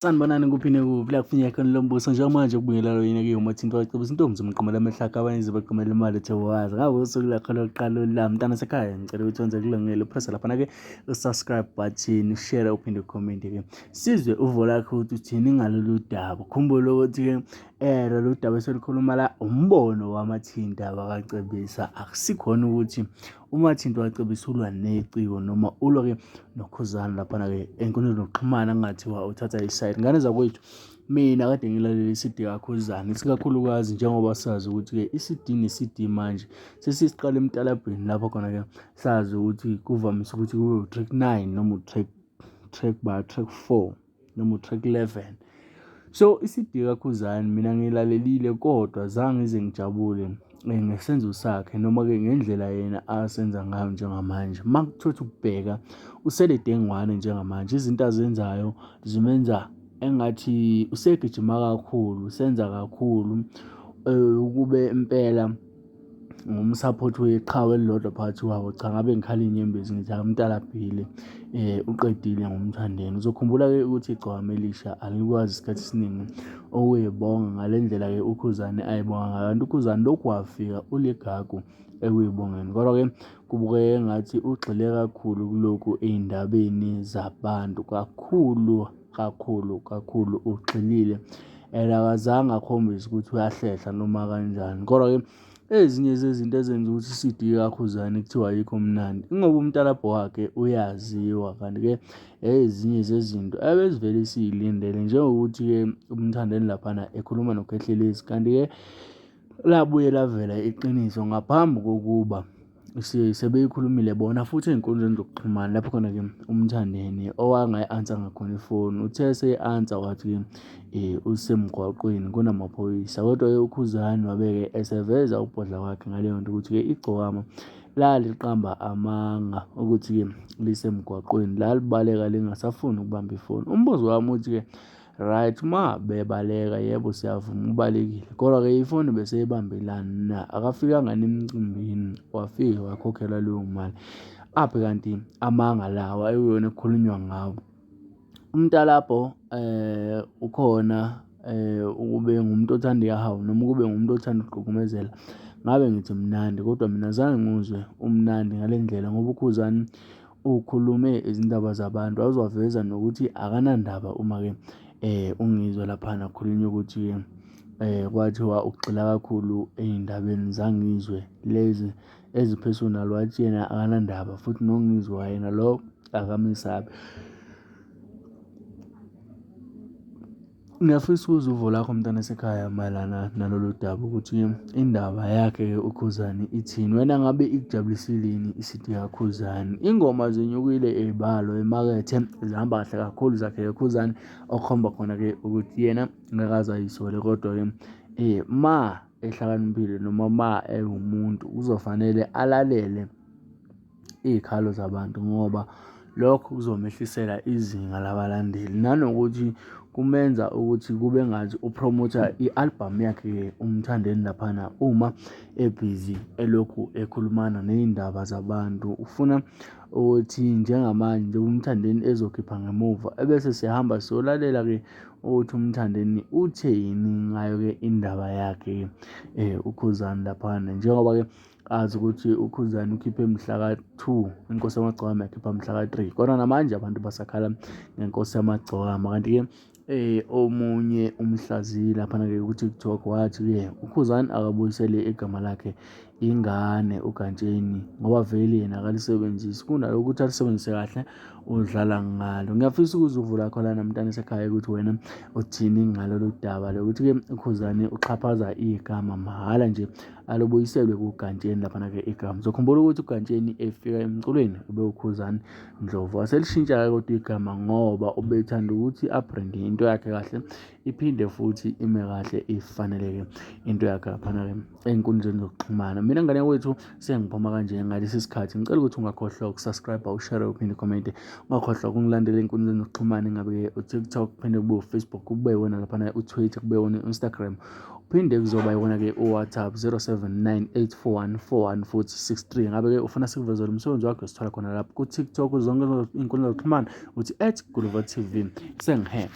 Sanibonani kuphi nekuphi la kufinyeka khona lo mbuso njengamanje kubuyela lo yineke yomathinto wacebisa intombi zomqomela amahlaka abanye zibaqomela imali ethe wazi ngako usuku lakho lokuqala olulami mntana sekhaya ngicela ukuthi wenze kulungele upressa laphana-ke usubscribe button ushare uphinde ucommente-ke sizwe uvo lakhe ukuthi uthini ngalolu daba khumbule ukuthi-ke um lolu daba eselikhuluma la umbono wamathinta wakacebisa akusikhona ukuthi UMathinti wacebisa ulwa neciko noma ulwa-ke nokhuzana laphana-ke enkundleni zokuxhumana kungathiwa uthatha isayidi ngane zakwethu mina kade ngilalele i-cd kakhuzana isikakhulukazi njengoba sazi ukuthi-ke i-cd ne-cd manje sesisiqala emtalabheni lapho khona-ke sazi ukuthi kuvamise ukuthi kube u-track nine noma u-track track ba track four noma uTrack 11 so iCD kaKhuzani mina ngilalelile kodwa zange ngize ngijabule eh, ngesenzo sakhe noma-ke ngendlela yena asenza ngayo njengamanje uma kuthothi ukubheka usele dengwane njengamanje izinto azenzayo zimenza engathi usegijima kakhulu usenza kakhulu um ukube impela ngumsaphothi weqhawe elilodwa phakathi kwabo. Cha, ngabe ngikhala inyembezi ngithi hhayi umdala abhile uqedile ngoMthandeni. Uzokhumbula-ke ukuthi igcokama elisha alikwazi isikhathi esiningi ukuyibonga ngale ndlela-ke uKhuzani ayibonga ngayo. Kanti uKhuzani lokhu wafika uligagu ekuyibongeni. Kodwa-ke kubukeke engathi ugxile kakhulu kulokhu ey'ndabeni zabantu kakhulu. Kakhulu kakhulu ugxilile and akazange akhombise ukuthi uyahlehla noma kanjani. Kodwa-ke ezinye zezinto ezenza ukuthi i-CD kaKhuzani kuthiwa ayikho mnandi ingoba umtalabho wakhe uyaziwa kanti-ke ezinye zezinto ebezivele siyilindele njengokuthi-ke umthandeni laphana ekhuluma noKhehlelezi kanti-ke labuye lavela iqiniso ngaphambi kokuba Sebeyikhulumile bona futhi ey'nkundleni zokuxhumana lapho khona-ke uMthandeni owangayi-answer ngakhona ifoni. Uthe eseyi-answer wathi usemgwaqweni kunamaphoyisa, kodwa-ke uKhuzani wabe-ke eseveza ukubhodla kwakhe ngaleyo nto ukuthi-ke igcokama laliqamba amanga okuthi-ke lisemgwaqweni lalibaleka lingasafuni ukubamba ifoni. Umbuzo wami uthi-ke. Right uma bebaleka yebo siyavuma ubalekile kodwa ke ifoni bese ibambelani na akafikanga nemcimbini wafika wakhokhela leyo mali aphi kanti amanga lawa ekuyona ekukhulunywa ngawo umntalapho eh ukhona eh ukube ngumuntu othanda ihawu noma ukube ngumuntu othanda ukuqhukumezela ngabe ngithi mnandi kodwa mina zange nguzwe umnandi ngale ndlela ngoba ukhuzani ukhulume izindaba zabantu awuzwaveza nokuthi akanandaba uma-ke ungizwa laphana kukhulunywa ukuthi eh kwathiwa ugxila kakhulu ey'ndabeni zangizwe lezi ezi-personal wathi yena akanandaba futhi nongizwa yena lo akamesabi. Ngiyafisa ukuzwa uvo lakho mntwana sekhaya mayelana nalolu daba ukuthi indaba yakhe uKhuzani ithini. Wena ngabe ikujabulisile yini i-C_D kaKhuzani? Ingoma zinyukile ey'balo emakethe zihamba kahle kakhulu zakhe uKhuzani, okukhomba khona-ke ukuthi yena ngeke aze ay'sole kodwa-ke uma ehlakaniphile noma uma ewumuntu kuzofanele alalele. iy'khalo zabantu ngoba lokho kuzomehlisela izinga labalandeli. Nanokuthi kumenza ukuthi kube ngathi uphromotha i-albhamu yakhe uMthandeni laphana uma ebhizi elokhu ekhulumana ney'ndaba zabantu. Ufuna ukuthi njengamanje njengoba uMthandeni ezokhipha ngemuva ebese siyahamba siyolalela-ke ukuthi uMthandeni utheni ngayo-ke indaba yakhe uKhuzani laphana njengoba-ke. azi ukuthi ukhuzani ukhiphe mhlaka-two inkosi yamagcwama yakhipha mhlaka-three kodwa namanje abantu basakhala ngenkosi yamagcwama kanti-ke eh omunye umhlaziyi laphana-ke ku-tiktok wathi-ke ukhuzani akabuyisele igama lakhe ingane ugantsheni ngoba vele yena akalisebenzisi kunalokho ukuthi alisebenzise kahle udlala ngalo ngiyafisa ukuze uvula khona namntana esekhaya ukuthi wena uthini ngalolu daba lokuthi-ke ukhuzane uxhaphaza igama mahhala nje alubuyiselwe kugantsheni laphana-ke igama uzokhumbula ukuthi ugantsheni efika emculweni ubewukhuzani ndlovu waselishintsha-ke kodwa igama ngoba ubethanda ukuthi abrende into yakhe kahle iphinde futhi ime kahle ifaneleke into yakhe laphana-ke ey'nkundleni zokuxhumana mina ngane wethu sengiphuma kanje ngalesi sikhathi ngicela ukuthi ungakhohlwa ukusubscribe ushare uphinde ukomente ungakhohlwa ukungilandela ey'nkundleni zokuxhumana ingabe-ke utiktok kuphinde kube ufacebook kube wona laphana utwitter kube wona u-instagram Uphinde kuzoba iwona-ke uWhatsApp 07984141 futhi 63. Ngabe-ke ufuna sikuvezele umsebenzi wakho sithola khona lapho ku-TikTok zonke iy'nkundla zokuxhumana uthi at Guluva TV. Sengihembe.